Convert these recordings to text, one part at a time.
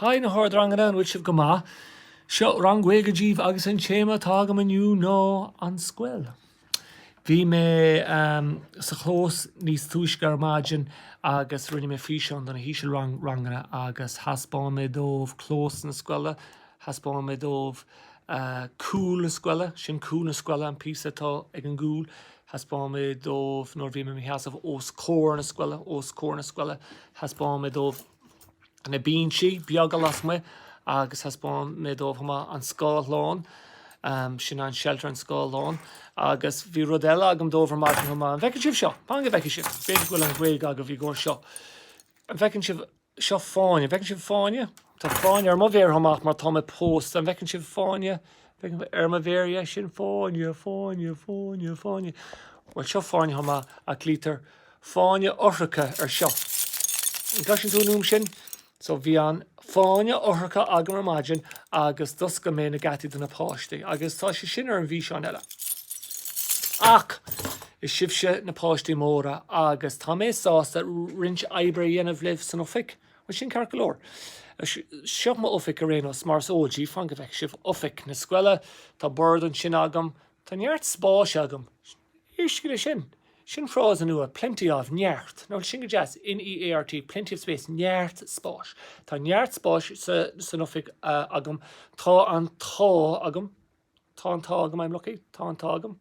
Haigh na hardranganna, an bhfuil sibh go maith? Seo rang Gaeilge díbh agus an téama atá agam inniu ná An Scoil. Bhí mé sa chlós níos túisce ar maidin agus rinne mé físeán do na hísealranganna agus thaispeáin mé dóibh clós na scoile, thaispeáin mé dóibh cúl na scoile, sin cúl na scoile, an píosa atá ag an gcúl. thaispeáin mé dóibh nuair a bhí mé i mo sheasamh os comhair na scoile, os comhair na scoile, thaispeáin mé dóibh na binsí beaga lasmuigh agus thaispeáin mé dóibh chomh maith an scáthlán, sin an shelter, an scáthlán. Agus bhí rud eile agam dóibh ar maidin chomh maith, an bhfeiceann sibh seo? Fan go bhfeicfidh sibh, b'fhéidir go bhfuil an Ghaeilge agaibh i gcomhair seo, an bhfeiceann sibh? Seo fáinne. An bhfeiceann sibh fáinne? Tá fáinne ar mo mhéar chomh maith mar tá mé pósta. An bhfeiceann sibh fáinne ar mo mhéar, yeah, sin fáinne, fáinne, fáinne, fáinne. Bhuel, seo fáinne chomh maith, ach glaoitear fáinne eochracha ar seo. An gcloiseann tú an fhuaim sin? So bhí an fáinne eochracha agam ar maidin agus d'oscail mé na geataí do na páistí. Agus tá sé sin ar an bhfíseán eile. Ach. Is sibhse na páistí móra agus tá mé sásta roinnt oibre a dhéanamh libh san oifig. Bhuel, sin ceart go leor. Seo m'oifig ar aon nós, mar is eol díbh, fan go bhfeice sibh oifig na scoile, tá bord ansin agam, tá neart spáis agam. Éistigí leis sin. Sin frása nua, plenty of, neart, nó sin go deas, N-e-a-r-t, plenty of space, neart spáis. Tá neart spáis san oifig agam, tá an t-ádh agam. Tá an t-ádh agam, I'm lucky, tá an t-ádh agam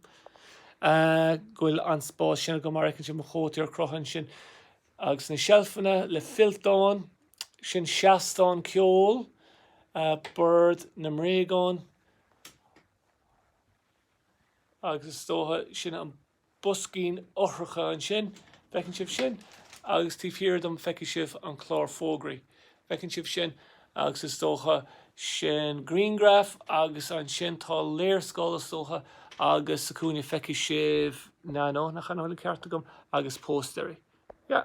go bhfuil an spás sin agam mar a fheiceann sibh mo chótaí ar crochadh ansin. Agus na seilfeanna le fillteáin, sin seastán ceoil, bord na mbréagán agus is dócha sin an boiscín eochracha ansin. Bhfeiceann sibh sin? Agus taobh thiar dom feicfidh sibh an chlár fógraí. Bhfeiceann sibh sin? Agus is dócha sin grianghraf agus ansin tá léarscáil is dócha agus sa chúinne feicfidh sibh, nah, no, nach an bhfuil an ceart agam? agus póstaeirí. Yeah.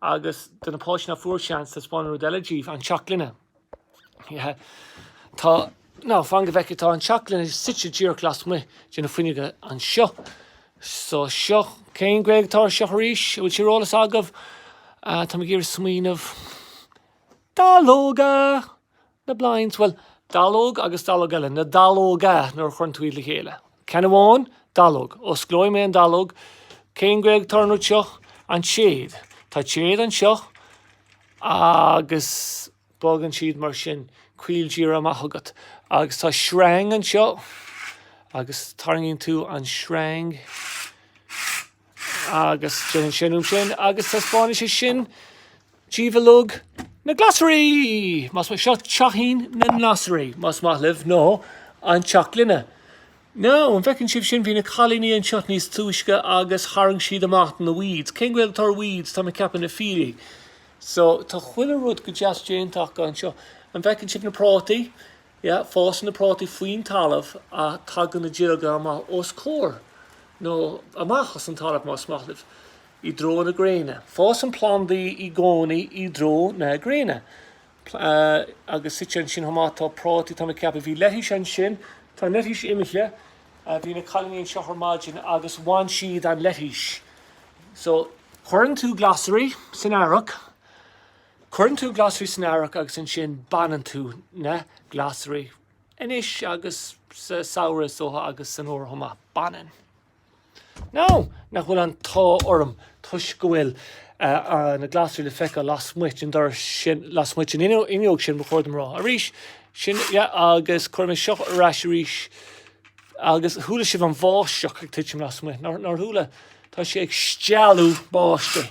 agus do na páistí ná fuair seans, taispeáin rud eile díbh, an teach gloine. Yeah. Tá, now fan go bhfeicfidh, tá an teach gloine suite díreach lasmuigh de na fuinneoga anseo. So seo, cén Ghaeilge atá ar seo arís, an bhfuil sé ar eolas agaibh? Tá mé ag iarraidh smaoineamh. Dallóga! Na blinds, bhuel, dallóg agus dallóg eile, na dallóga nuair a chuireann tú iad le chéile. Ceann amháin, dallóg. Osclóidh mé an dallóg. Cén Gaeilge atá ar an rud seo? An téad. Tá téad anseo agus bogann siad mar sin. Coill díreach amach agat. Agus tá sreang anseo agus tarraingíonn tú an sreang. agus déanann sé an fhuaim sin agus taispeánfaidh sé sin díbh uilig na glasraí! Más maith, seo teachín na nglasraí, más maith libh, nó an teach gloine. Nó, an bhfeiceann sibh sin, bhí na cailíní anseo níos túisce agus tharraing siad amach na weeds. Cén Ghaeilge atá ar weeds, tá mé ag ceapadh na fiailí. So, tá chuile rud go deas déanta acu anseo. An bhfeiceann sibh na prátaí? Yeah, fásann na prátaí faoin talamh ach tagann na duilleoga amach os comhair nó amach as an talamh, más maith libh, i dtreo na gréine. Fásann plandaí i gcónaí i dtreo na gréine. Agus suite ansin chomh maith, tá prátaí, tá mé ag ceapadh. Bhí leitís ansin, tá an leitís imithe, bhí na cailíní anseo ar maidin agus bhain siad an leitís. So, cuireann tú glasraí san earrach. Cuireann tú glasraí san earrach agus ansin baineann tú na glasraí anois agus sa samhradh is dócha agus san fhómhar chomh maith. Baineann. Nó nach bhfuil an t-ádh orm toisc go bhfuil na glasraí le feiceáil lasmuigh den doras sin, lasmuigh den fhuinneog sin ba chóir dom a rá. Arís, sin, yeah, agus cuirfidh mé seo ar ais arís. Agus chuala sibh an bháisteach ag titim lasmuigh, nár chuala? Tá sé ag stealladh báistí.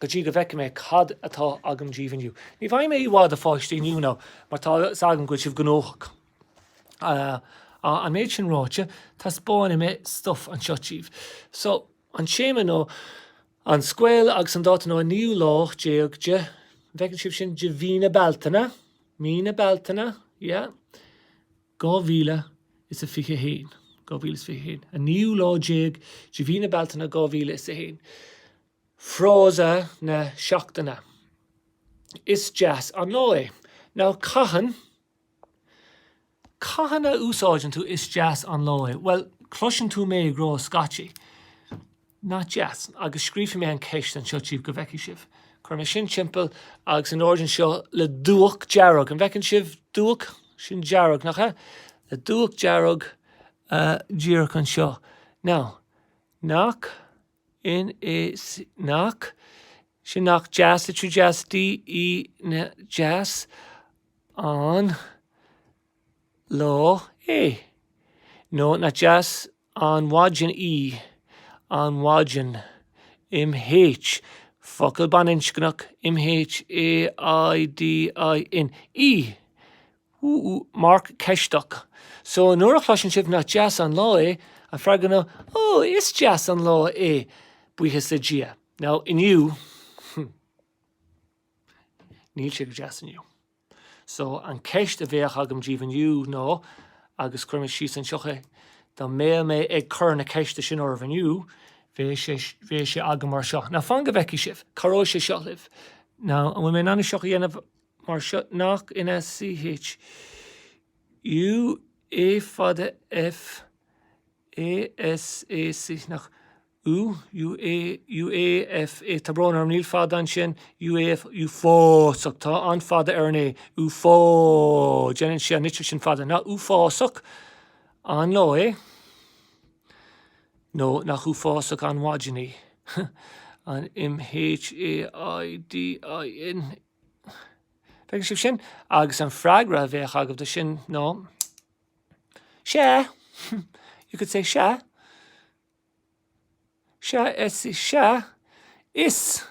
go dtí go bhfeicfidh mé cad atá agam díbh inniu. Ní bheidh mé i bhfad, a pháistí, inniu ná mar tá 's agam go bhfuil sibh gnóthach. An méid sin ráite, taispeánfaidh mé stuif anseo díbh. So, an téama ná an scoil agus an dáta ná an naoú lá déag de, an bhfeiceann sibh sin, de mhí na Bealtaine, mí na Bealtaine, yeah, dhá mhíle is a fiche haon, dhá mhíle is fiche haon, an naoú lá déag de mhí na Bealtaine dhá mhíle is a haon. Frása na Seachtaine, Is deas an lá é. Now cathain, cathain a úsáideann tú is deas an lá é? Bhuel, cloiseann tú mé ag rá scaití, nach deas, agus scríobhfaidh mé an cheist anseo díbh go bhfeicfidh sibh. Cuirfidh mé sin timpeall agus in airde anseo, le dúch dearg, an bhfeiceann sibh dúch? Sin dearg, nach ea? Le dúch dearg díreach anseo. Now, nach. N, A, C, nach, sin nach deas, litriú deas, D, E, nach, deas, an, lá, é, nó nach deas an mhaidin í, an mhaidin, M, H, focal baininscneach, M, H, A, I, D, I, N, í, úúú marc ceisteach so nuair a chloiseann sibh nach deas an lá é a freagra ná ó is deas an lá é buíochas le Dia now inniu hmm níl sé go deas inniu so an ceist a bheadh agam díobh inniu ná agus chuir mé síos anseocha dá mbeadh mé ag cur na ceiste sin oraibh inniu bheadh sé bheadh sé agam mar seo now fan go bhfeicfidh sibh cá raibh sé seo libh now an bhfuil mé in ann seocha a dhéanamh mar seo, nach N A C H, U, A fada F, A, S, A C H nach, U, U, A, U, A, F, A Tá brón orm, níl fada ansin, U, A, F, uafásach, tá an fada ar an A, uafá, déanann sé an litir sin fada, nach uafásach an lá é? nó nach uafásach an mhaidin í? an, M, H, A, I, D, I, N, Feiceann sibh sin, agus an freagra a bheadh agaibh do sin ná Sea. You could say sea. Sea is sea is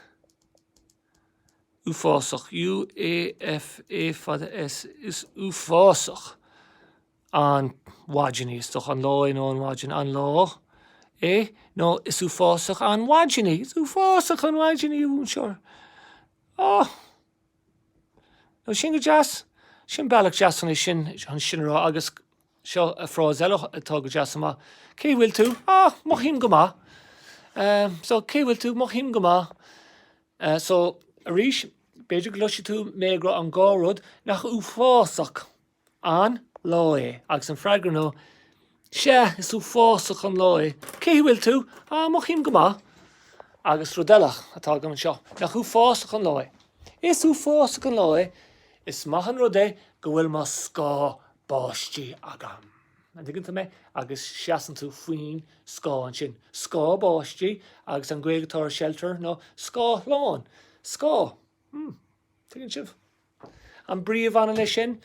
uafásach UAFA fada S is uafásach an mhaidin í is dóigh an lá é nó an mhaidin an lá é nó is uafásach an mhaidin í is uafásach an mhaidin í ún seir. Ó! Now sin go deas. Sin bealach deas chun é sin chun sin a rá agus seo frása eile atá go deas chomh maith, Cén chaoi a bhfuil tú? Á! Mothaím go maith. So, Cén chaoi a bhfuil tú? Mothaím go maith. So, arís, b'fhéidir go gcloisfidh tú mé ag rá an dhá rud, nach uafásach. an lá é? Agus an freagra ná, Sea, is uafásach an lá é. Cén chaoi a bhfuil tú? Ah, mothaím go maith. Agus rud eile atá agam anseo, Nach uafásach an lá é? Is uafásach an lá é, is maith an rud é go bhfuil mo scáth báistí agam. An dtuigeann tú mé? Agus seasann tú faoin scáth ansin. Scáth báistí, agus an Ghaeilge atá ar shelter ná scáthlán. Scáth. Tuigeann sibh? An bhfuil muid ann leis sin,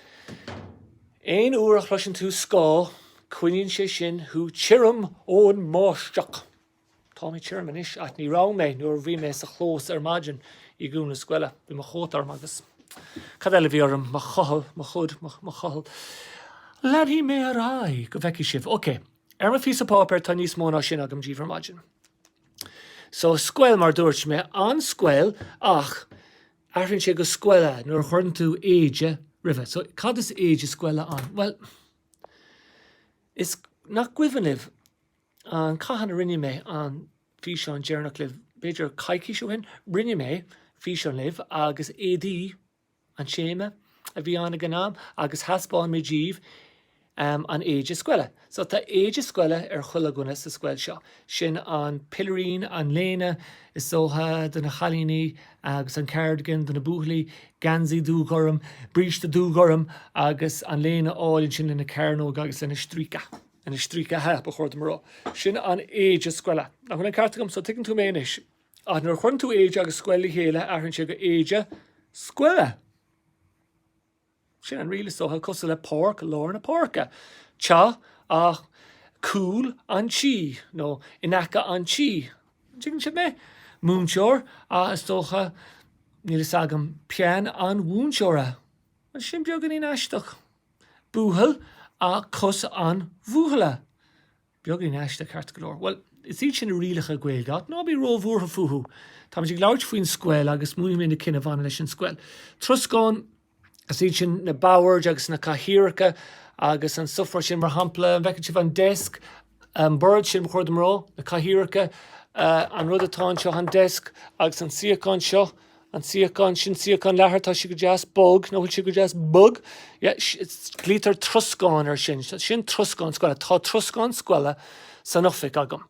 aon uair a chloiseann tú scáth, coinníonn sé sin thú tirim ón mbáisteach. Tá mé tirim anois, ach ní raibh mé nuair a bhí mé sa gclós ar maidin i gclós na scoile. Bhí mo chóta orm agus cad eile a bhí orm, mo chochall, mo hood, mo chochall. Leanfaidh mé ar aghaidh go bhfeicfidh sibh. OK. Ar mo phíosa páipéir tá níos mó ná sin agam díobh ar maidin. So, scoil, mar a dúirt mé, an scoil, ach. athraíonn sé go scoile nuair a chuireann tú éide roimhe. So, cad is éide scoile ann? Bhuel, nach cuimhin libh an, cathain a rinne mé an físeán deireanach libh, b'fhéidir coicís ó shin? Rinne mé físeán libh agus éadaí an téama a bhí ann ag an am agus thaispeáin mé daoibh an éide scoile so tá éide scoile ar chuile dhuine sa scoil seo. Sin an pilirín, an léine, is dócha, do na cailíní agus an cardigan do na buachaillí, geansaí dúghorm, bríste dúghorm agus an léine álainn sin lena cearnóga agus lena stríoca, lena stríocaithe ba chóir dom a rá. Sin an éide scoile. An bhfuil an ceart agam? So tuigeann tú mé anois. Ach nuair a chuireann tú éide agus scoil le chéile athraíonn sé go éide scoile. Sin an riail, is dócha, cosúil le páirc, lár na páirce, teach ach cúl an tí, nó in aice an tí, an dtuigeann sibh mé? múinteoir ach is dócha, níl a fhios agam, peann an mhúinteora, bhuel sin beagáinín aisteach, buachaill ach cos an bhuachalla. Beagáinín aisteach, ceart go leor. Bhuel, is iad sin na rialacha Gaeilge, ach ná bí róbhuartha fúthu. Táimid ag labhairt faoin scoil agus múinfidh mé na cinn a bhaineann leis an scoil. Troscán, is iad sin na boird agus na cathaoireacha agus an stuff mar sin, mar shampla, an bhfeiceann sibh an desk, an bord sin, ba chóir dom a rá, na cathaoireacha, an rud atá anseo, an desk, agus an suíochán seo, an suíochán, sin suíochán leathair, tá sí go deas bog, nó an bhfuil sí go deas bog? Glaoitear troscán air sin, sin troscán scoile, tá troscán scoile san oifig agam.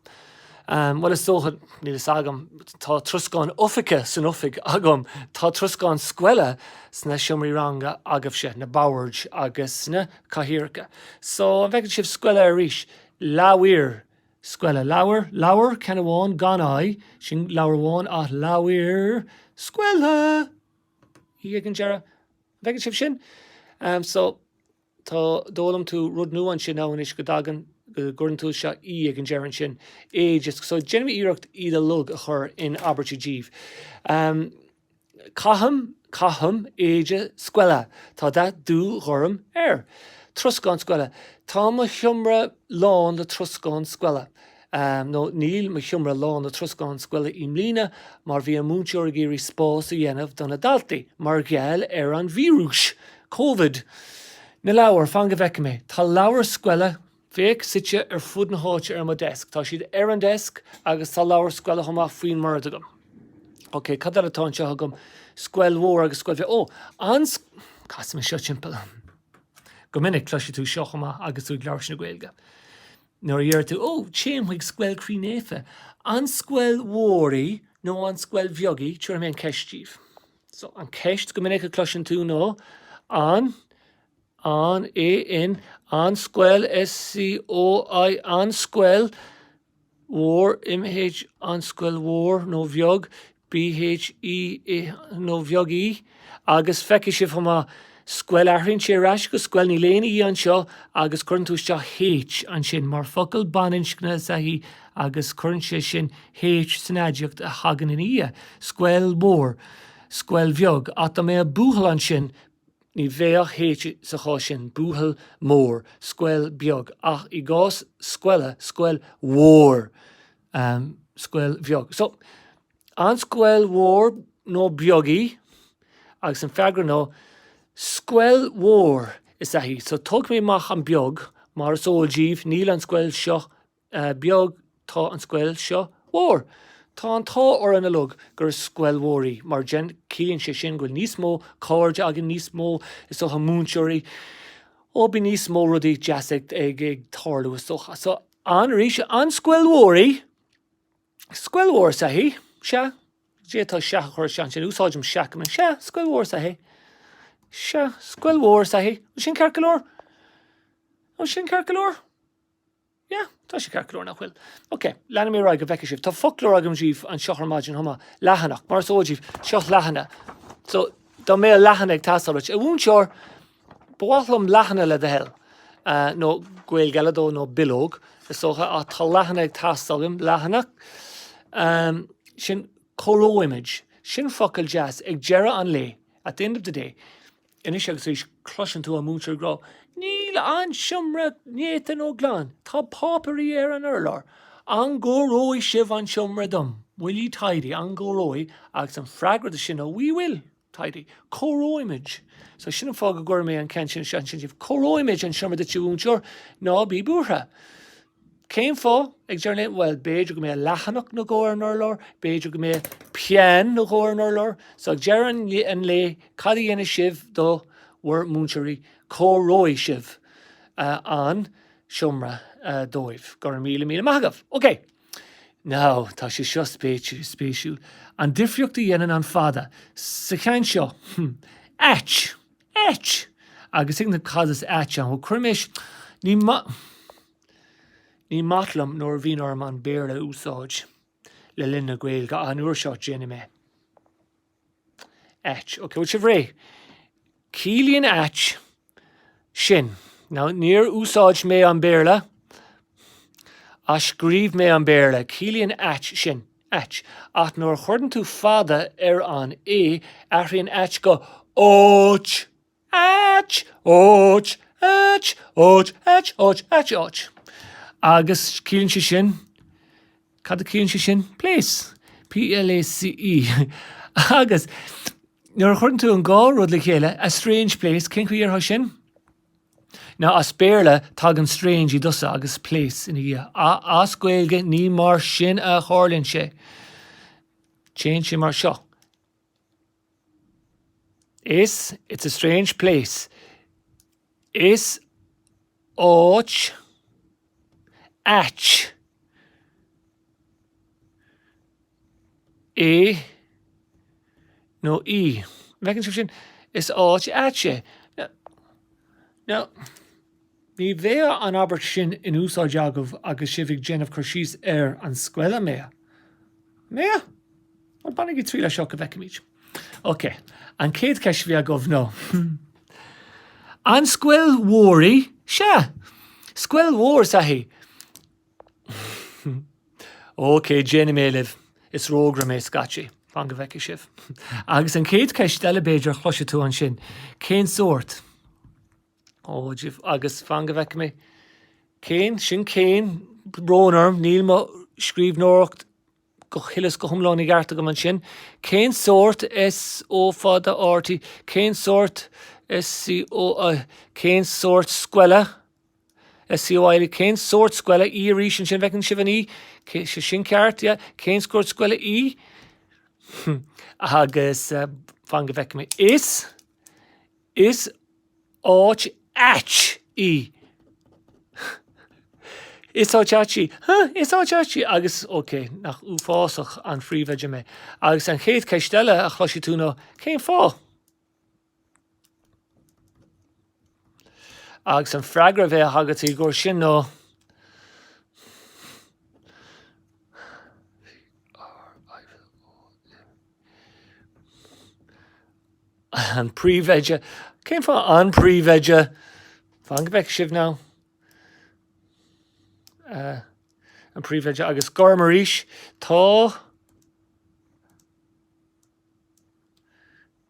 Bhuel, is dócha, níl a fhios agam, tá troscán oifige san oifig agam, tá troscán scoile sna seomraí ranga agaibhse, na boird agus na cathaoireacha. So, an bhfeiceann sibh scoile arís? Leabhair scoile, leabhar, leabhar, ceann amháin, gan i, sin leabhar amháin, ach leabhair scoile, i ag an deireadh. An bhfeiceann sibh sin? So, tá, d'fhoghlaim tú rud nua ansin ann anois go dtagann, go gcuireann tú isteach i ag an deireadh ansin, age, so déanfaidh mé iarracht iad uilig a chur in abairtí daoibh. Caithim, caithim, éide scoile, tá dath dúghorm air. Troscán scoile, tá mo sheomra lán le troscán scoile. Nó, níl mo sheomra lán le troscán scoile i mbliana mar bhí an múinteoir ag iarraidh spás a dhéanamh do na daltaí mar gheall ar an víreas, Covid. Na leabhair, fan go bhfeice mé, tá leabhair scoile. Féach, suite ar fud na háite ar mo desk. Tá siad ar an desk agus tá leabhar scoile chomh maith faoin mbord agam. Ok, cad eile atá anseo agam? Scoil mhór agus scoil bheag. Ó, an, casaim é seo timpeall. Go minic, cloisfidh tú seo chomh maith agus tú ag labhairt na Gaeilge. Nuair a deir tú, Ó, téim chuig Scoil Chroí Naofa. An scoil mhór í nó an scoil bheag í? Tabharfaidh mé an cheist daoibh. So, an cheist go minic a chloiseann tú ná, An. an AN an scoil SCOIL an scoil mhór MH an scoil mhór nó bheag BH E A G nó bheag í agus feicfidh sibh chomh maith scoil athraíonn sé ar ais go scoil níl aon í anseo agus cuireann tú isteach H ansin mar focal baininscne is ea í agus cuireann sé sin H san aidiacht a thagann ina dhiaidh, scoil mhór, scoil bheag ach dá mbeadh buachaill ansin, Ní bheadh H sa chás sin, buachaill mór, scoil bheag, ach i gcás scoile, scoil mhór, scoil bheag. So, an scoil mhór nó beag í? Agus an freagra ná, Scoil mhór is ea í. So, tógfaidh mé amach an beag, mar is eol daoibh, níl an scoil seo beag tá an scoil seo mhór. Tá an t-ádh orainn uilig gur scoil mhór í, mar ciallaíonn sé sin go bhfuil níos mó cairde againn, níos mó, is dócha, múinteoirí. Ó, bíonn níos mó rudaí deasa ag tarlú, is dócha. So, an, arís, an scoil mhór í? Scoil mhór is ea í. Sea. D'fhéadfá sea a chur isteach ansin, úsáidim sea go minic. Sea, scoil mhór is ea í. Sea, scoil mhór is ea í. An sin ceart go leor? An sin ceart go leor? Yeah, tá sé ceart go leor nach bhfuil. OK, leanfaidh mé ar aghaidh go bhfeicfidh sibh. Tá foclóir agam daoibh anseo ar maidin chomh maith, leathanach, mar is eol daoibh, seo leathanach. So dá mbeadh leathanach ag teastáil uait, a mhúinteoir, ba mhaith liom leathanach le do thoil, nó Gaeilge eile dó, nó bileog, is dócha, ach tá leathanach ag teastáil uaim, leathanach. Sin, cóireoimid. Sin focal deas, ag deireadh an lae, at the end of the day. Anois agus arís cloiseann tú an múinteoir ag rá, 'Níl an seomra néata nó glan. Tá páipéirí ar an urlár. An gcóireoidh sibh an seomra dom? Will ye tidy? An gcóireoidh? Agus an freagra dó sin ná 'We will. tidy. Cóireoimid. So sin an fáth go gcuir mé an ceann sin isteach ansin daoibh, 'Cóireoimid an seomra duit, a mhúinteoir. Ná bí buartha. Cén fáth? ag deireadh an lae, bhuel, b'fhéidir go mbeadh leathanach nó dhó ar an urlár, b'fhéidir go mbeadh peann nó dhó ar an urlár. So ag deireadh an lae, cad a dhéanfaidh sibh do bhur múinteoirí? Cóireoidh sibh an seomra dóibh. Go raibh míle míle maith agaibh. OK. Now, tá sé seo spéisiúil. An difríocht a dhéanann an fada sa cheann seo. Áit. ait! agus ag na Cad is ait? An bhfuil, cuirimis Ní Ní maith liom nuair a bhíonn orm an Béarla a úsáid le linn na Gaeilge ach an uair seo déanfaidh mé ait. Ok, bhfuil sibh réidh? Ciallaíonn ait sin. Now, níor úsáid mé an Béarla ach scríobh mé an Béarla. Ciallaíonn ait sin. ait. Ach nuair a chuireann tú fada ar an a, athraíonn ait go áit, ait, áit, ait, áit, ait, áit, ait, áit. Agus ciallaíonn sé sin, cad a chiallaíonn sé sin? place, p-l-a-c-e. Agus nuair a chuireann tú an dhá rud le chéile, a strange place, cén chaoi a ndéarfá sin? Now as Béarla tagann strange i dtosach agus place ina dhiaidh ach as Gaeilge ní mar sin a tharlaíonn sé. Téann sé mar seo. Is, it's a strange place. Is áit ait. é nó í. An bhfeiceann sibh sin? Is áit ait é. Now, ní bheadh an abairt sin in úsáid agaibh agus sibh ag déanamh cur síos ar an scoil, an mbeadh? An mbeadh? Bhuel, bainigí triail as seo go bhfeicfimid. Ok, an chéad cheist a bhí agaibh nó An scoil mhór í? Sea, scoil mhór is ea í. OK, déanfaidh mé libh é. Is rógaire mé scaití. Fan go bhfeicfidh sibh. Agus an chéad cheist eile, b'fhéidir, a chloisfidh tú ansin, cén sórt? Ó, dubh, agus fan go bhfeicfidh mé. Cén, sin cén, brón orm, níl mo scríbhneoireacht go huile is go hiomlán i gceart agam ansin, cén sórt SO fada RT, cén sórt SCO, cén sórt scoile? SCOIL Cén sórt scoile í arís ansin, bhfeiceann sibh an í? Cé, sin ceart, yeah, cén sórt scoile í? Agus, fan go bhfeice mé, is, is áit ait í. Is áit ait í. Huh, is áit ait í. Agus, ok, nach uafásach an príomhoide mé. Agus an chéad cheist eile a chloisfidh tú nó, cén fáth? Agus an freagra a bheadh agatsa dhó sin nó. an príomhoide. Cén fáth an príomhoide? Fan go bhfeice sibh now. Uh, an príomhoide agus gorm arís. Tá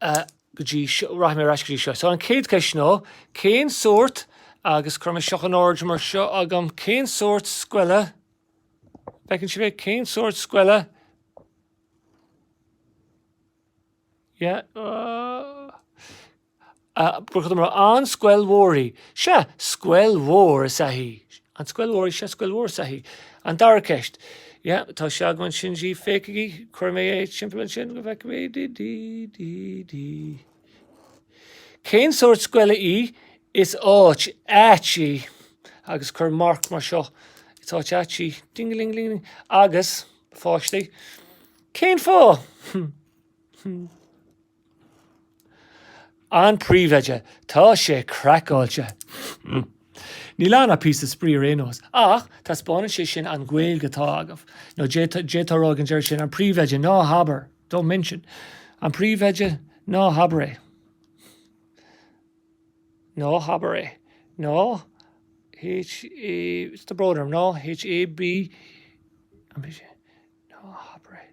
go dtí, rachaidh mé ar ais go dtí seo. So an chéad cheist ná, cén sórt, agus cuir mé seo in ord mar seo agam, cén sórt scoile, bhfeiceann sibh é, cén sórt scoile, yeah, an scoil mhór í? Sea, scoil mhór is ea í. An scoil mhór í seo? Scoil mhór is ea í. An dara ceist. Yeah, tá sé agam ansin. Féachaigí, cuirfidh mé é timpeall ansin go bhfeicfidh sibh di, di, di, di. Cén sórt scoile í? Is áit ait í. Agus cuir marc mar seo. Is áit ait í. Ding-a-ling-a-ling. Agus, pháistí, cén fáth? An príomhoide, Tá sé craiceáilte. Níl ann ach píosa spraoi ar aon nós. Ach taispeánann sé sin an Ghaeilge atá agaibh. Nó d'fhéadfá a rá ag an deireadh sin, An príomhoide, Ná habair! Don't mention! An príomhoide, Ná habair é. Ná habair é. Ná h-a, what's the broader, ná h-a-b, an bhfuil sé? Ná habair é.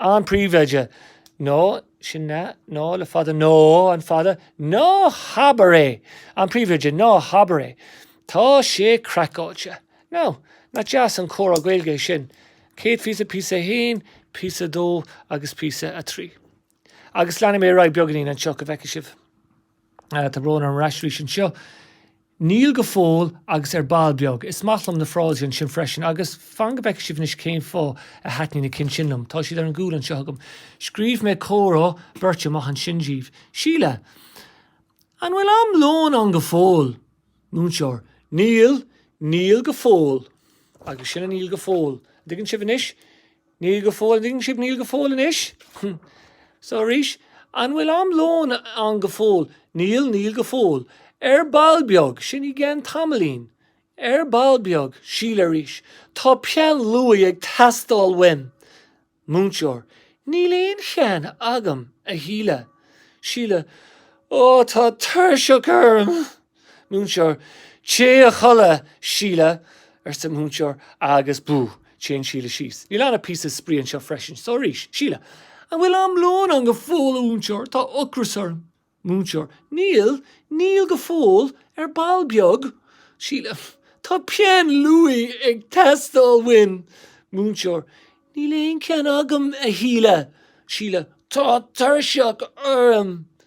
an príomhoide, Ná sin ná, ná le fada, Ná an fada, Ná habair é! an príomhoide, Ná habair é! Tá sé craiceáilte! Now, nach deas an comhrá Gaeilge é sin? Céad phíosa, píosa a haon, píosa a dó agus píosa a trí. Agus leanfaidh mé ar aghaidh beagáinín anseo, go bhfeicfidh sibh. Tá brón orm ar ais arís anseo. Níl go fóill agus ar ball beag. Is maith liom na frásaí ansin freisin. Agus fan go bhfeicfidh sibh anois cén fáth a thaitníonn na cinn sin liom. Tá siad ar an gcúl anseo agam. Scríobh mé comhrá beirte amach ansin díbh. Síle, An bhfuil am lóin ann go fóill? Múinteoir, Níl, níl go fóill. Agus sin an níl go fóill. An dtuigeann sibh anois? Níl go fóill, an dtuigeann sibh, níl go fóill anois. So arís, an bhfuil am lóin ann go fóill? Níl, níl go fóill. Ar ball beag, sin i gceann tamaillín. Ar ball beag. Síle arís, Tá peann luaidhe ag teastáil uaim. Múinteoir, Níl aon cheann agam, a Shíle. Síle, Ó, tá tuirseach orm! Múinteoir, Téigh a chodladh, Síle, arsa múinteoir agus bú! téann Síle síos. Níl ann ach píosa spraoi anseo freisin. So arís. Síle, An bhfuil am lóin ann go fóill a mhúinteoir, tá ocras orm. Múinteoir, Níl, níl go fóill, ar ball beag. Síle, Tá peann luaidhe ag teastáil uaim. Múinteoir, Níl aon cheann agam, a Shíle. Síle, Tá tuirseach orm.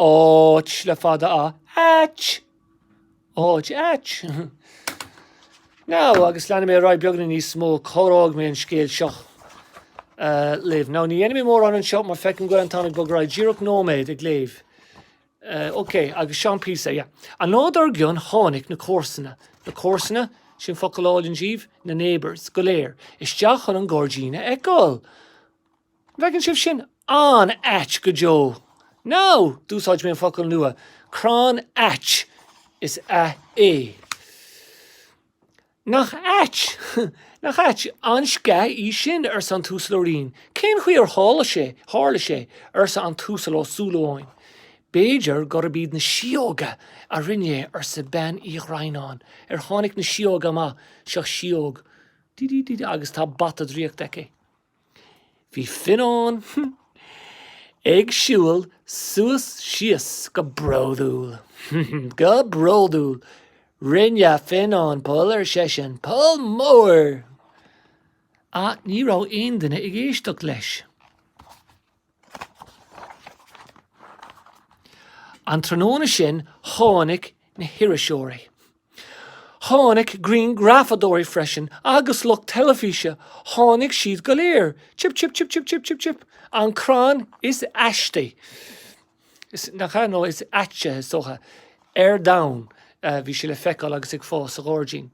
áit le fada a ait! áit, ait! Now, agus leanfaidh mé ar aghaidh beagán níos mó, críochnóidh mé an scéal seo libh. Now, ní dhéanfaidh mé mórán anseo mar feicim go bhfuil an t-am ag bogadh ar aghaidh, díreach nóiméad ag léamh. OK, agus seo an píosa, yeah. An lá dár gcionn tháinig na comharsana, na comharsana, sin focal álainn daoibh, na neighbours, go léir, isteach chun an gairdín a fheiceáil. Bhfeiceann sibh sin an-ait go deo. Now! D'úsáid mé an focal nua, crann ait. Is ea é. Nach ait! Nach ait an sceach í sin, arsa an tUasal Ó Rinn. Cén chaoi ar tharla sé, arsa an tUasal Ó Súilleabháin. B'fhéidir gurb iad na síóga a rinne é, arsa Bean Uí Dhroighneáin. Ar tháinig na síóga amach? Seo síóg. Dí-dí-dí-dí. Agus tá bata draíochta aici. Bhí Fionán ag siúl suas síos go bródúil. Go bródúil. Rinne Fionán poll, ar seisean, poll mór! Ach ní raibh aon duine ag éisteacht leis. An tráthnóna sin tháinig na hiriseoirí. Tháinig grianghrafadóirí freisin agus lucht teilifíse, tháinig siad go léir. Chip chip chip chip chip chip chip. An crann is aistí, nach ea, nó is aite, is dócha, ar domhan, bhí sé le feiceáil agus ag fás sa ghairdín.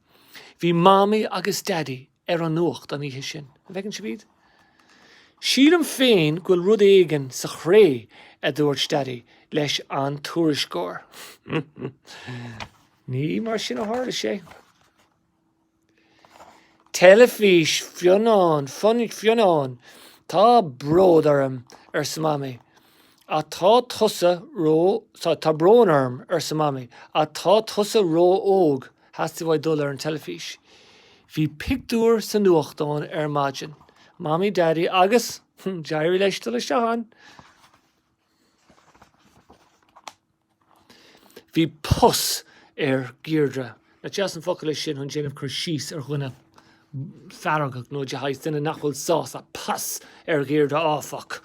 Bhí Mamaí agus Daidí ar an nuacht an oíche sin. An bhfeiceann sibh iad? Sílim féin go bhfuil rud éigin sa chré, a dúirt Daidí leis an tuairisceoir. Ní mar sin a tharla sé. Teilifís Fionán, Fionán, tá bród orm, arsa Mamaí, ach tá tusa ró, tá brón orm, arsa Mamaí, ach tá tusa ró-óg. Theastaigh uaidh dul ar an teilifís. Bhí pictiúr sa nuachtán ar maidin, Mamaí Daidí agus, d'éirigh leis dul isteach ann. Bhí pus ar Dheirdre. Nach deas an focal é sin chun déanamh cur síos ar dhuine feargach nó le haghaidh duine nach bhfuil sásta pus ar Dheirdre áfach.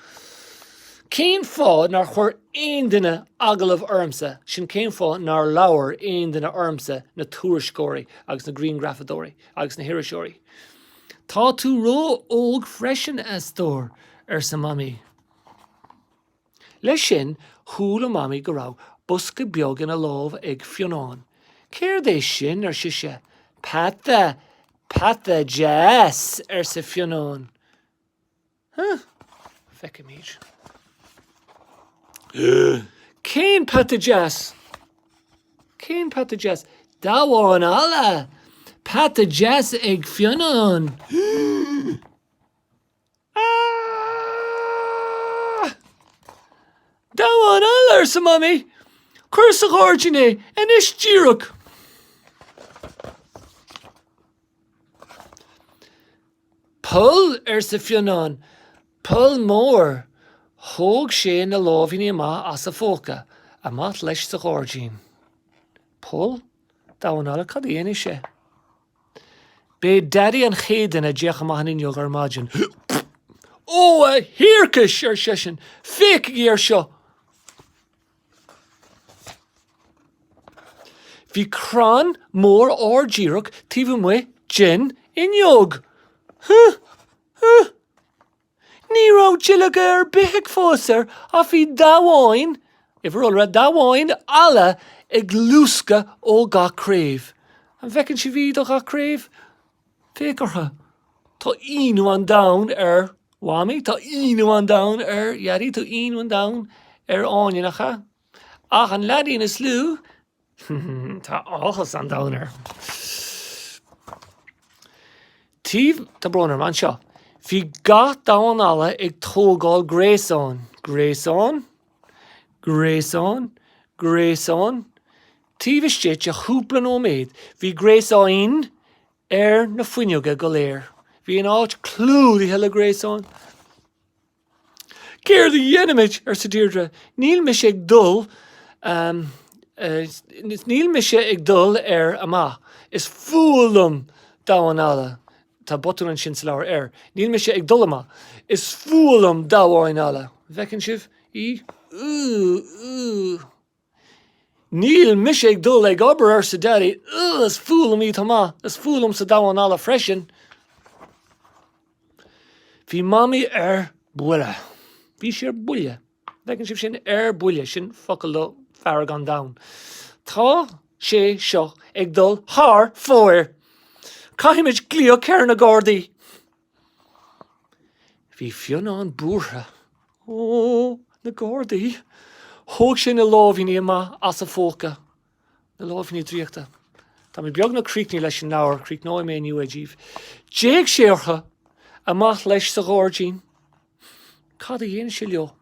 Cén fáth nár chuir aon duine agallamh ormsa, sin cén fáth nár labhair aon duine ormsa, na tuairisceoirí agus na grianghrafadóirí agus na hiriseoirí? Tá tú ró-óg freisin, a stór, arsa Mamaí. Leis sin, chuala Mamaí go raibh bosca beag ina lámh ag Fionnán. 'Céard é sin? ar sise. 'Peata, peata deas, arsa Fionnán. 'Huh? Feicfimid. 'Cén peata deas? Cén peata deas? Damhán alla! Peata deas ag Fionnán! Damhán alla, arsa Mamaí. Cuir sa ghairdín é, anois díreach. Poll, arsa Fionnán, poll mór. Thóg sé na láimhíní amach as a phóca. Amach leis sa ghairdín. Poll? Damhán alla? Cad a dhéanfaidh sé? B'é Daidí an chéad duine a d'fhéach amach an fhuinneog ar maidin. Ó, a thiarcais! ar seisean. Féachaigí air seo! Bhí crann mór ard díreach taobh amuigh den fhuinneog. Huh! Huh! Ní raibh duilleoga ar bith ag fás air ach bhí damháin, uimhir iolra, damháin alla ag luascadh ó gach craobh. An bhfeiceann sibh í do gach craobh? Féach orthu. Tá ionadh an domhain ar Mhamaí, tá ionadh an domhain ar Dhaidí, tá ionadh an domhain ar Áine, nach ea? Ach an leaidín is lú, Tá áthas an domhain air. Taobh tá brón orm anseo. Bhí gach damhán alla ag tógáil gréasáin, gréasáin, gréasáin, gréasáin, Taobh istigh de chúpla nóiméad bhí gréasáin ar na fuinneoga go léir. Bhí an áit clúdaithe le gréasáin. Céard a dhéanfaimid? arsa Deirdre. Níl mise ag dul, níl mise ag dul ar amach. Is fuath liom damhán alla, tá botún ansin sa leabhar air, níl mise ag dul amach. Is fuath liom damháin alla. Bhfeiceann sibh í? Ooh, ooh. Níl mise ag dul ag obair, arsa Daidí. Ugh, is fuath liom í, tá amach, is fuath liomsa damhán alla freisin. Bhí Mamaí ar buile. Bhí sí ar buile. Bhfeiceann sibh sin? Ar buile, sin focal do fearg an domhain. Tá sé seo ag dul thar fóir! Caithfimid glaoch ar na Gardaí! Bhí Fionnán buartha. Ó, na Gardaí! Thóg sé na láimhíní amach as a phóca. Na láimhíní draíochta. Tá mé beagnach críochnaithe leis an leabhar, críochnóidh mé inniu é díbh. D'fhéach sé orthu! Amach leis sa ghairdín. Cad a dhein sé leo?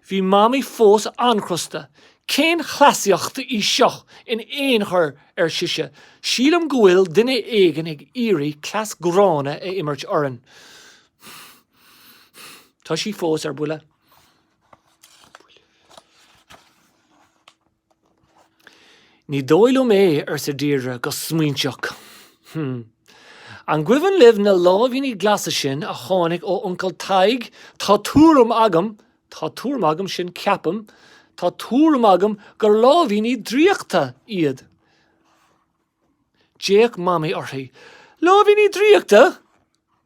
Bhí Mamaí fós an-chrosta. 'Cén chleasaíocht í seo in aon chor, ar sise. 'Sílim go bhfuil duine éigin ag iarraidh cleas gránna a imirt orainn. Tá sí fós ar buile. Ní dóigh liom é, arsa Deirdre go smaointeach. Hm. An gcuimhin libh na láimhíní glasa sin a tháinig ó Uncail Tadhg, tá tuairim agam, tá tuairim agam, sin ceapaim, tá tuairim agam gur láimhíní draíochta iad. D'fhéach Mamaí uirthi. Láimhíní draíochta?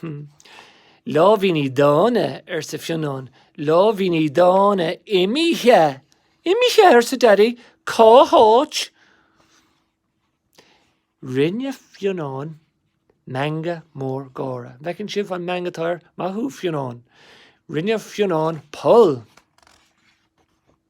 Hm. Láimhíní dána, arsa Fionnán, láimhíní dána imithe! Imithe! arsa Daidí, cá háit? Rinne Fionnán meangadh mór gáire. An bhfeiceann sibh an meangadh atá air? Maith thú, Fionnán. Rinne Fionnán poll.